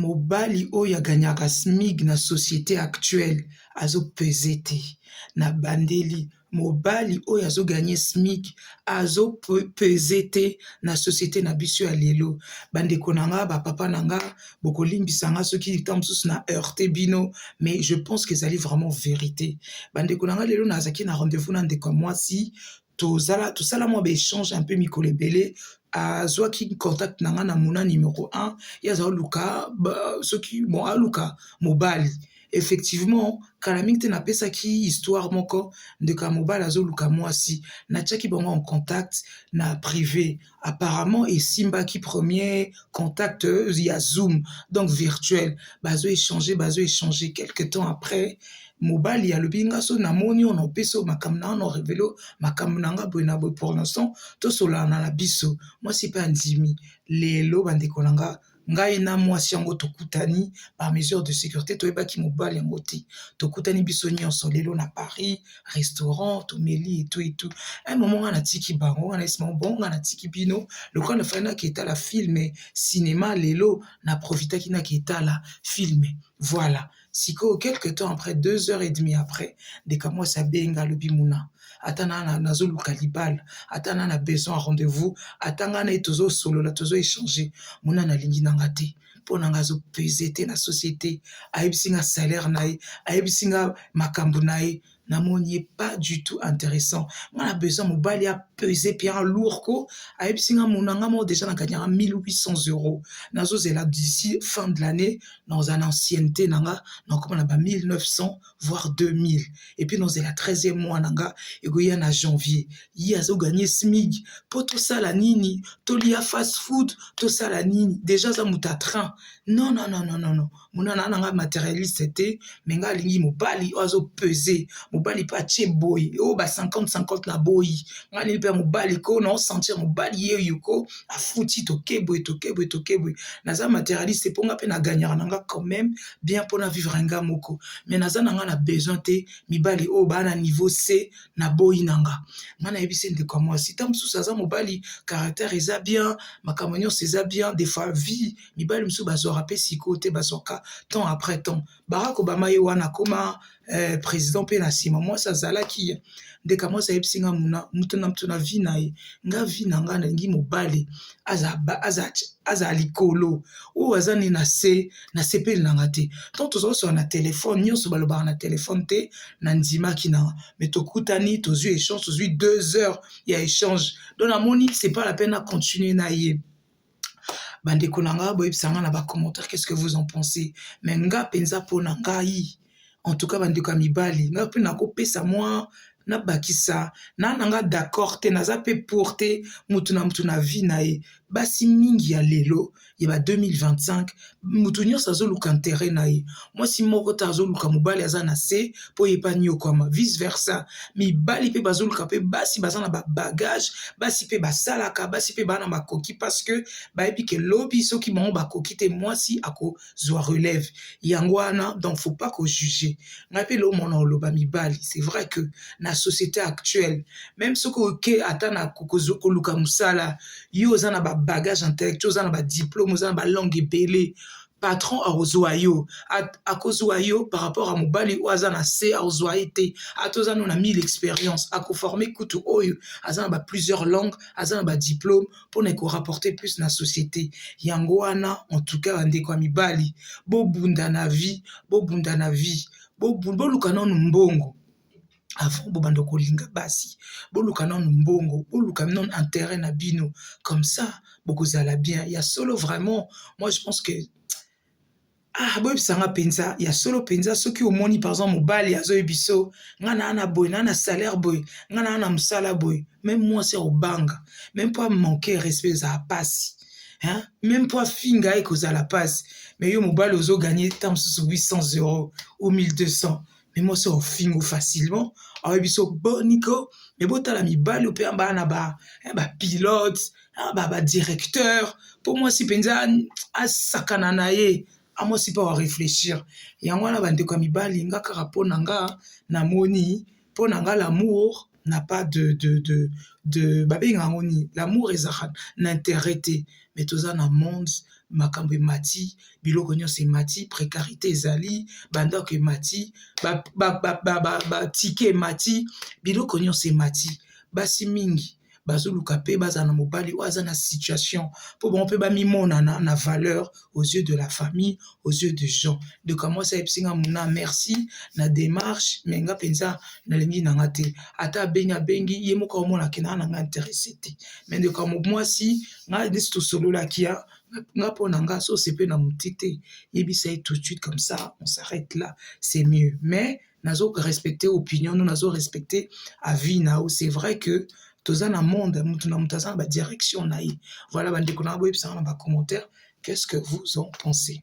Mobali oyo a gagnaka smig na societe actuelle azo peze te na bandeli mobali oyo azo gagne smig azo peze te na societe na biso ya lelo ba ndeko na nga ba papa na nga boko limbisa nga soki ntan mosusu na heurte bino mais je pense que ezali vraiment verite ba ndeko na nga lelo nazalaki na rendez-vous na ndeko ya mwasi tozala tosala mwa baechange un peu mikolo ebele azwaki contact na ngai na mona numero 1 ye aza oluka soki bon aluka mobali effectivement kala mingi te napesaki histoire moko ndeko ya mobali azoluka mwasi natiaki bango en contact na prive apparemment esimbaki premier contact ya zoom donc virtuel bazo échanger bazo échanger quelque temps après mobali alobi nga so namoni oyo naopesi oyo makambo na wana orevele makambo na nga boye na boye pour l'instant tosolana na biso mwasi mpe andimi lelo bandeko na nga Ngai na mwasi yango tokutani par mesure de securite, toyebaki mobali yango te. Tokutani biso nyonso lelo na Paris, restaurant, tomeli etu etu. Un moment nga natiki bango, nga nayebisi bango bon nga natiki bino, lokola na fallait nake etala film cinema lelo na profitaki nake etala film. Voilà. Sikoyo quelque temps après deux heures et demie après ndeko ya mwasi abenga alobi muna ata na nazoluka libala ata na na besoin ya rendez-vous ata ngai na ye tozosolola tozo échanger muna nalingi na nga te mpo na ngai azopese te na société ayebisi nga salaire na ye ayebisi nga makambo na ye na moni ye pas du tout interessant nga na besoin mobali a pese pe a lourd ko ayebisi nga mona nga moko deja na gagnaka 1800 euros nazozela d'ici fin de l'année nakozala na ancienneté na nga nakoma na ba 1900 voire 2000 epuis nakozela 13e mois na nga ekoya na janvier ye azoganye smig po tosala nini tolia fast food tosala nini deja aza moto ya train non non non non monana na ngai materialiste te me ngai alingi mobali oyo azo pese mobali mpe atie boy oyo ba 50 50 na boyi ngai alingi mpe ya mobali ko na osentir mobali ye yuko afuti tokebwe tokebwe tokebwe naza materialiste mpo ngai mpe na gagnaka na ngai quand même bien mpona vivre ngai moko me naza na ngai na besoin te mibali oyo baa na niveau se na boyi na nga ngai nayebisi ndeko ya mwasi ntango mosusu aza mobali caractère eza bien makambo nyonso eza bien defois vie mibali mosusu bazwaka mpe sikoyo te bazwaka temps après temps barak obama ye wana akoma eh, président mpe na nsima mwasi azalaki ye ndeka mwasi ayebisi nga muna moto na moto na vi na ye nga vi na nga nalingi mobali azala likolo oyo aza ne na se nasepeli na nga te ntango tozwa osola na telefone nyonso balobaka na telefone te na ndimaki na nga me tokutani tozwi échange tozwi deux heures ya échange donc namoni c'est pas la peine na continue na ye bandeko na nga boyebisa nga na ba commentaire qu'est-ce que vous en pensez mais nga mpenza mpo na ngai en tout cas bandeko ya mibali nga mpe nakopesa mwa nabakisa na na nga d'accord te naza mpe pour te motu na motu na vie na ye basi mingi ya lelo ya ba 2025 mutu nyonso azoluka interet na ye mwasi moko te azoluka mobali aza na se mpo ye mpe aniokwama vice versa mibali mpe bazoluka mpe basi baza na babagage basi mpe basalaka basi mpe baa na makoki parce que bayebi ke lobi soki bango bakoki te mwasi akozwa relève yango wana donc faut pas kojuge ngai mpe lomona oloba mibali c'est vrai que na société actuelle meme soki oke ata na koluka mosala yo oza na ba bagage intellectuel oza na ba diplome oza na ba langue ebele patron akozwa yo akozwa yo par rapport à mobali oyo aza na se akozwa ye te ata oza no na 1000 expérience akoforme kutu oyo aza na ba plusieurs langues aza na ba diplome mpona ekorapporte plus na société yango wana en tout cas bandeko ya mibali bobunda na vie bobunda na vie boluka nano mbongo avant bobanda kolinga basi boluka nanu mbongo boluka nanu interet na bino comme ça bokozala bien ya solo vraiment moi je pense que ah boyebisa nga mpenza ya solo mpenza soki omoni par exemple mobali azoyebi so nga naa na boye naa na salaire boye nga naa na mosala boye meme mwasi ya kobanga meme mpo amanke respect ezala mpasi meme mpo afinga ye kozala mpasi mais yo mobali ozoganye ntango mosusu 800 euro ou 1200 mais mwasi ofingo facilement aoye biso boni ko me botala mibali oyo mpe baa na ba eh, bapilote ah, badirecteur mpo mwasi mpenza asakana na ye amwasi mpe areflechir yango wana bandeko ya mibali nga kaka mpo na nga namoni mpo na nga lamour n'a pas de de de de babenga yango nini l'amour ezalaka na interet te mais toza na monde makambo emati biloko nyonso emati precarite ezali bandako emati batike emati biloko nyonso emati basi mingi bazoluka mpe bazala na mobali oyo aza na situation mpo bango mpe bamimonana na valeur aux yeux de la famille aux yeux de gens donc amwasi ayebisi nga muna merci na démarche mais nga mpenza nalingi na nga te ata abengi abengi ye moko aomona ke naa na nga interesse te mais ndeko ya mwasi nga nisi tosololaki ya nga mpo na nga so osepe na moti te yebisa ye tout de suite comme ça on s'arrête là c'est mieux mais nazo respecter opinion no nazo respecter avis na yo c'est vrai que toza na monde mutu na mutu aza na ba direction na ye voilà bandeko na boyebisanga na ba commentaire qu'est-ce que vous en pensez